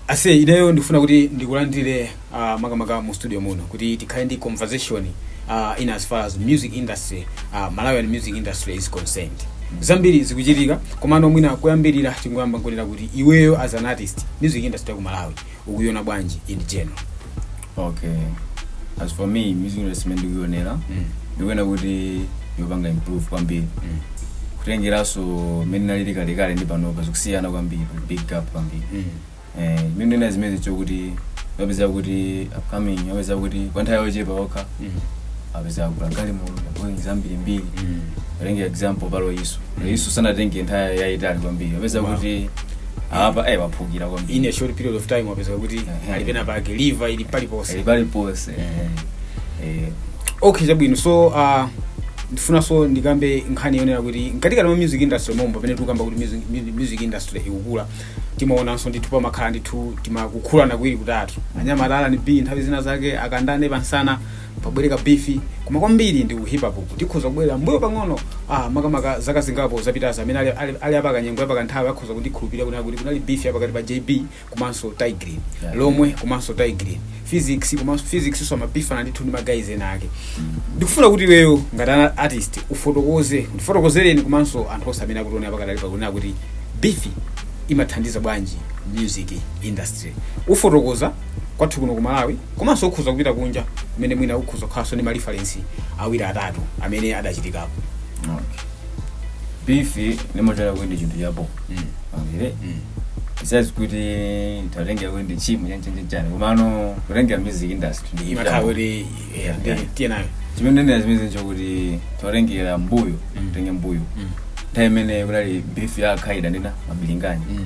aise ineyo ndikufuna kuti ndikulandire uh, makamaka mu studio muno kuti tikhale ndi conversation uh, in as far as music industry uh, malawian music industry is concerned zambiri zikuchitika komano mwina kuyambirira tingoyamba nkunena kuti iweyo as an artist music industry ya ku malawi ukuiona bwanji in general okay as for me music industry imene ndikuionera Mm. ndikuona kuti ikupanga improve kwambiri Mm. kutengeranso mmene inalili kalekale ndi panopa zikusiyana kwambiri kuli big gap kwambiri Mm. Eh, chimene ndinenera zimenezi nchokuti upeza kuti upcoming upeza kuti kwa nthawi yochepa yokha Mm. upeza wagula galimoto ndabwengi zambirimbiri Mm. titenge example pali isu isu sanatenge nthawi yayitali kwambiri upeza Wow. kuti apa eh waphukira kwambiri in a short period of time wapeza kuti Mhm. ali pena pake liver ili paliponse ali pali pose eh okay chabwino so uh, ndifunanso ndikambe nkhani yonena kuti mkatikati mwa music industry mommo pamene tikukamba kuti music, mu- music industry ikukula timaonanso ndithu pamakhala ndithu timikukhulana tiwiri titatu anyamata a r&b nthawi zina zake akandane pansana pabwereko beef koma kwambiri ndi hip hop tikhoza kubwerera mbuyo pang'ono ah, makamaka zaka zingapo zapitazi amene ali, ali, ali apakanyengo apakanthawi akhoza kundikhulupirira kunena kuti kunali beef yapakati pa jb komanso tay grin Yeah. lomwe komanso tay grin phyzix komanso phyzix so amabifana ndithu ndi magayizi ena ake ndikufuna kuti iweyo ngati an artist ufotokoze ndifotokozereni komanso anthu onse amene akutiona apakati ali pakunena kuti beef imathandiza bwanji music industry ufotokoze kwathu kuno ku malawi komanso ukhoza kupita kunja kumene mwina ukhoza kukhalanso ndi ma reference awiri atatu amene adachitikapo Okay. beef ndimaitenga kuti ndi chinthu chabho Mm. okay Mm. besides kuti titatengera kuti ndi tchimo chanichani komano kutengera music industry ndi imakhala chinthu kuti eh, ndi- Yeah. tiye nayo chimene ndinenera zimenezo nchokuti titatengera mbuyo Mm. titenge mbuyo Mm. nthawi imene kunali beef ya a khaida ndina mabilingani Mm.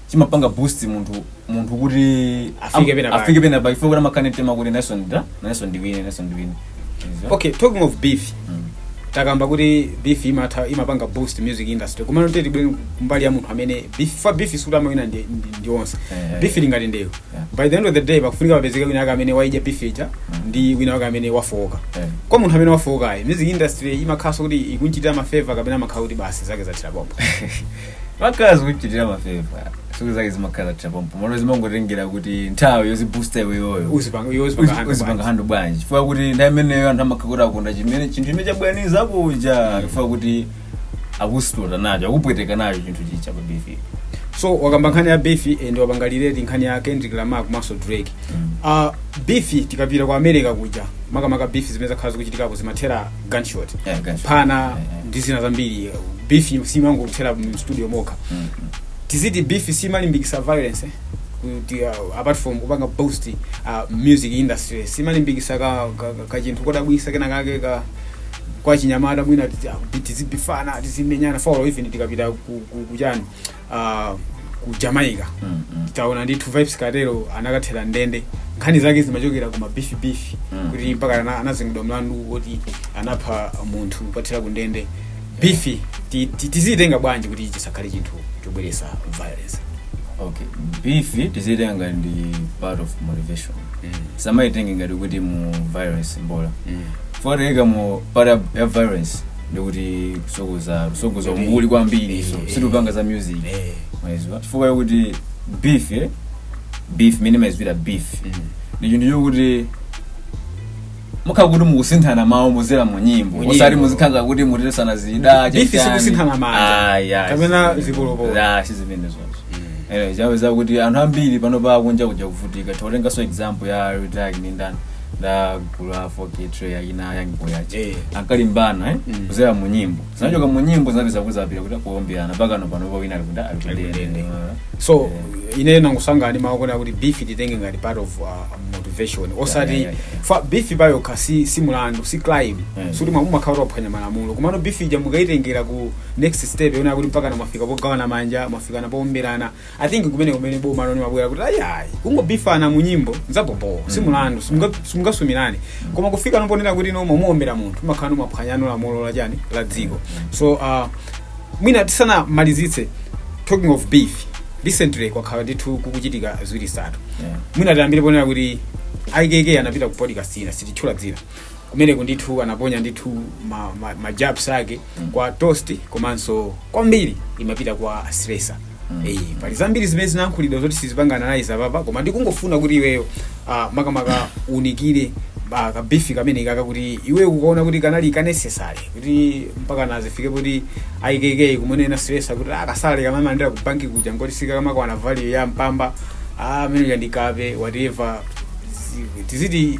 chimapanga boost munthu munthu kuti Afike am- pena pake. afike pena pake chifukwa kuti amakhala ndi mtima kuti nayeso ndida nayeso ndiwine nayeso ndiwine Izo. okay talking of beef Mm. takamba kuti beef imatha imapanga boost music industry koma titengenso mbali ya munthu amene beef paja beef sikuti amawina ndi, ndi, ndi onse Eh, eh. beef ili ngati ndewu Yeah. by the end of the day pakufunika papezeke wina wake amene waidya beef ija ndi wina wake amene wafowoka Eh. kwa munthu amene wafowokayo music industry imakhalanso kuti ikunchitira mafeva kapena amakhala kuti basi zake zathera pompa imakhala sikuchitira mafeva zake zake zimakhala zathera pompo komano zimangotengera kuti nthawi yoziboosta iweyoyo uzipanga iwe uzipanga hand uzipanga bwanji. handle bwanji chifukwa kuti nthawi imeneyo anthu amakhala kuti akonda chimene chinthu chimene chabwanyiza kuja chifukwa kuti akukutota nacho akukupweteka nacho chinthu chija pa beef so wakamba nkhani ya beef and wapanga relate nkhani ya kendrick lamar komanso drake uh, beef tikapita ku america kuja makamaka beef zimene zakhala zikuchitikako zimathera gunshot Yeah, gunshot. phana Yeah, yeah. ndi zina zambiri beef simangokuthera mu studio mokha Mm. tiziti beef simalimbikisa violence eh? kuti uh, apart from kupanga boost uh, music industry simalimbikisa ka, ka, ka, ka chinthu kodabwisa kena kake ka kwa achinyamata mwina tizi- ah, tizibifana tizimenyana for even tikapita ku- ku- kuchani ah, ku jamaica Mm, mm. taona ndithu Vybz Kartel anakathera m'ndende nkhani zake zimachokera ku ma beef beef Mm. kuti mpaka ana- anazengedwa mlandu woti anapha munthu kwathera ku ndende beef ti- ti- tiziyitenga bwanji kuti chisakhale chinthu chobweresa violence okay beef tizitenga ndi part of motivation osamaitenga ngati kuti mu violence mbola Mm. foreka mu part ya violence ndikuti kusogoza kusogoza Kuti- umbuli kwambiri so Eh, sitikupanga za music eh. mwaizwa chifukwa kuti beef eh? beef mene ndimaiziwira beef Mm. ndi chinthu chokuti mukhala kuti mukusinthana mawu kuzera mu nyimbo Mu nyimbo. osati muzikhala kuti mutesana zida Beef chachani. sikusinthana manja. Ah, yeah, Kapena si- zipolopolo. Yeah, si zimene zonse Eh, chawe zakuti anthu ambiri pano pakunja kuja akuvutika tikutenganso example ya Lil Durk ndi ndani la gulu la 4K Trey ya achina YoungBoy aja Eh. ankalimbana eh? Mm. kuzera mu nyimbo zinachoka mu nyimbo zinapeza kuzapira kuti kuombeana mpakana panopa wina ali kuti Ali kundende. ali kundende so ine nangusanga ndi mawu akuti beef tiitenge ngati part of uh, motivation osati yeah, yeah. for beef payokha si, si mulandu si crime Mm. sikuti mumakhala mukuphwanya malamulo komano beef ija mukayitengera ku next step yonena kuti mpaka mwafika pogawana manja mwafikana poomberana i think kumene kumene bomano limabwera kuti ayayi kungobifana mu nyimbo n'zabhobho si mulandu simunga- simungasumirane koma kufikano ponena kuti no mwamuombera munthu mumakhalano mwaphwanyano lamulo la chani la dziko so uh, mwina tisanamalizitse talking of beef recently kwakhala ndithu kukuchitika ziwiri zitatu Yeah. mwina tiyambire ponena kuti IKK anapita ku podcast ina sititchula dzina kumeneku ndithu anaponya ndithu ma, ma, ma jabs ake kwa toast komanso kwambiri imapita kwa stresa Eh, pali zambiri zimene zinayankhulidwa zoti sitizipanga analyze apapa koma ndikungofuna kuti iweyo ah, makamaka uunikire ah, ka beef kameneka kuti iweyo ukukaona kuti kanali ka necessary kuti mpakana zifike kuti IKK kumunena stresa kuti ka salary kamene amalandira ku banki kuja nkoti sikakamakwana value ya mpamba ah, amene uja ndi kape whatever Zi- tiziti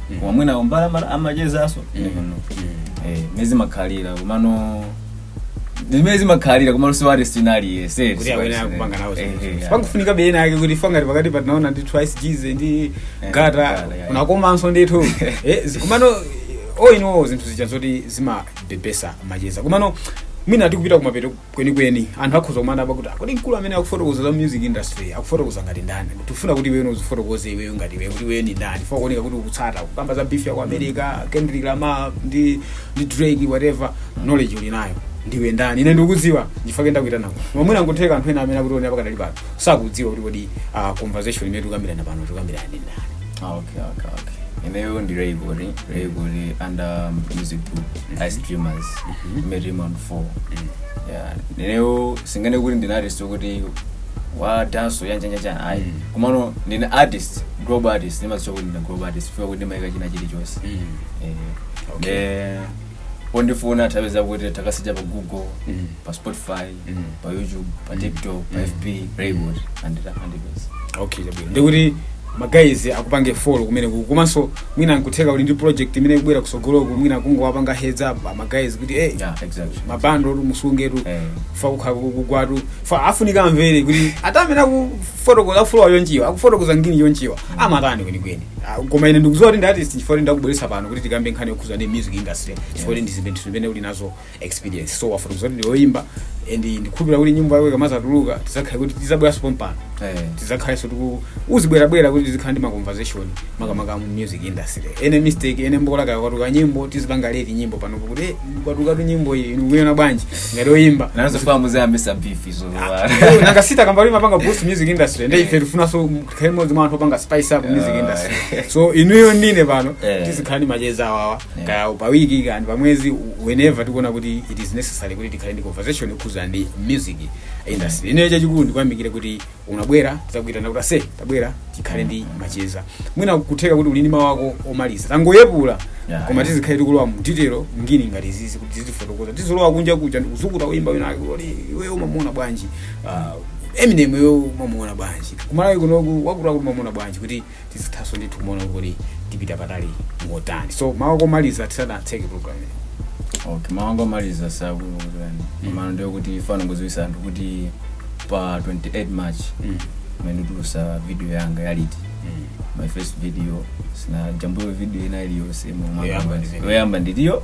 koma mwina kumbali ama- amachezaso kuno Eh, zimene zimakhalira komano zimene zimakhalira komano si artist wina aliyense kuti awene akupanga nawo zinthu. pangofunikabe ena ake kuti ife ngati pakatipa tinaona ndi twice gz ndi Eh, gata Gata, yeah. kunakomanso ndithu Eh, zi- komano oinowo zinthu zija zoti zimabebesa macheza komano mwina tikupita kumapeto kwenikweni anthu akhoza kumadabwa kuti "Ah, kodi mkulu amene akufotokoza za music industry akufotokoza ngati ndani tifuna kuti iweyo uzifotokoze iweyo ngati iweyo kuti iweyo ndi ndani fa kuoneka kuti ukutsata kukamba za beef ya ku america kendrick lamar ndi drake whatever knowledge uli nayo ndiwe ndani ine ndikudziwa ndifake ndakuitana koma mwina nkutheka anthu ena amene akutionera pakadali pano sakudziwa kuti kodi ah, conversation imene tikukambirana pano tikukambirana ndi ndani Ah, okay, okay, okay. Ineyo ndi Raybury, Raybury under um, music group, Ice Dreamers, Mary Round 4. Yeah, ineyo sindinganene kuti ndine artist kuti wa dance ya njanja njanja ayi. Mm. Komano ndine artist, global artist, ndimazitcha kuti ndine global artist, chifukwa kuti ndimayika china chilichonse. Mm. Eh, Okay. eh, pondifuna atha kupeza kuti atakasecha pa Google, Mm. pa Spotify, Mm. pa youtube pa Mm. tiktok pa Mm. fb raymond atha kundipeza okay chabwino ndikuti magayizi akupange follow kumeneko komanso mwina nkutheka uli ndi project imene ikubwera kusogoloku mwina kungowapanga heads up amagayizi kuti eh yeah exactly mabandotu musungetu Eh. fa kukhala kugwatu fa afunika akamvere kuti ata amene akufotokoza flow yonchiwa akufotokoza ngini yonchiwa amatani kwenikweni Ah, koma ine ndikuziwa kuti ndi artist chifukwa kuti ndakubweretsa pano kuti tikambe nkhani yokhuza ndi music industry chifukwa kuti ndizimene uli nazo experience so wafotokoza kuti ndiyoyimba and ndikukhulupira kuti nyimbo yako ikamazatuluka tizakhale kuti tizabweranso pompano Eh. tizakhalenso kuti uzibwerabwera kuti tizikhala ndi ma conversation makamaka mu music industry ene mistake ene mbola kaya kwatuluka nyimbo tizipanga rate nyimbo pano kuti eh, kwatulukatu nyimbo iyi ndikuyona bwanji ngati oyimba nanzo famu za mesa beef izo Eh, nanga si takamba limapanga boost music industry ndi ife tifunanso tikhale mmodzi mwa anthu opanga spice up music industry so iweyo ndi ine pano Eh. tizikhala ndi macheza awawa Yeah. kaya pa wiki kaya ndi pa mwezi whenever tikuona kuti it is necessary kuti tikhale ndi conversation yokhuzana ndi music industry ineyo chachikulu ndikuyamikire kuti unabwera tizakuitana kuti ase tabwera tikhale ndi macheza mwina kutheka kuti uli ndi mawu ako omaliza tangoyepula Yeah, koma yeah. tizikhale tikulowa mu detail ngini ngati izizi kuti tizifotokoza tizilowa kunja kuja ndikuzukuta oyimba wina wake kuti iweyo umamuona bwanji Ah, eminemyo umamuona bwanji kumalawi kunoku wakutiwakuti umamuona bwanji kuti tizithanso ndithu kumaona kuti tikupita patali motani so mawu ako omaliza tisanatseke program iyi. okay mawu anga omaliza sakuani mano ndiyo kuti ndifuna kungoziwisa anthu kuti pa 28 march Mm. pamene nditulusa video yanga yaliti Mm. my first video sindinajambulepo video ina iliyonse Yoyamba ndi video. yoyamba ndiliyo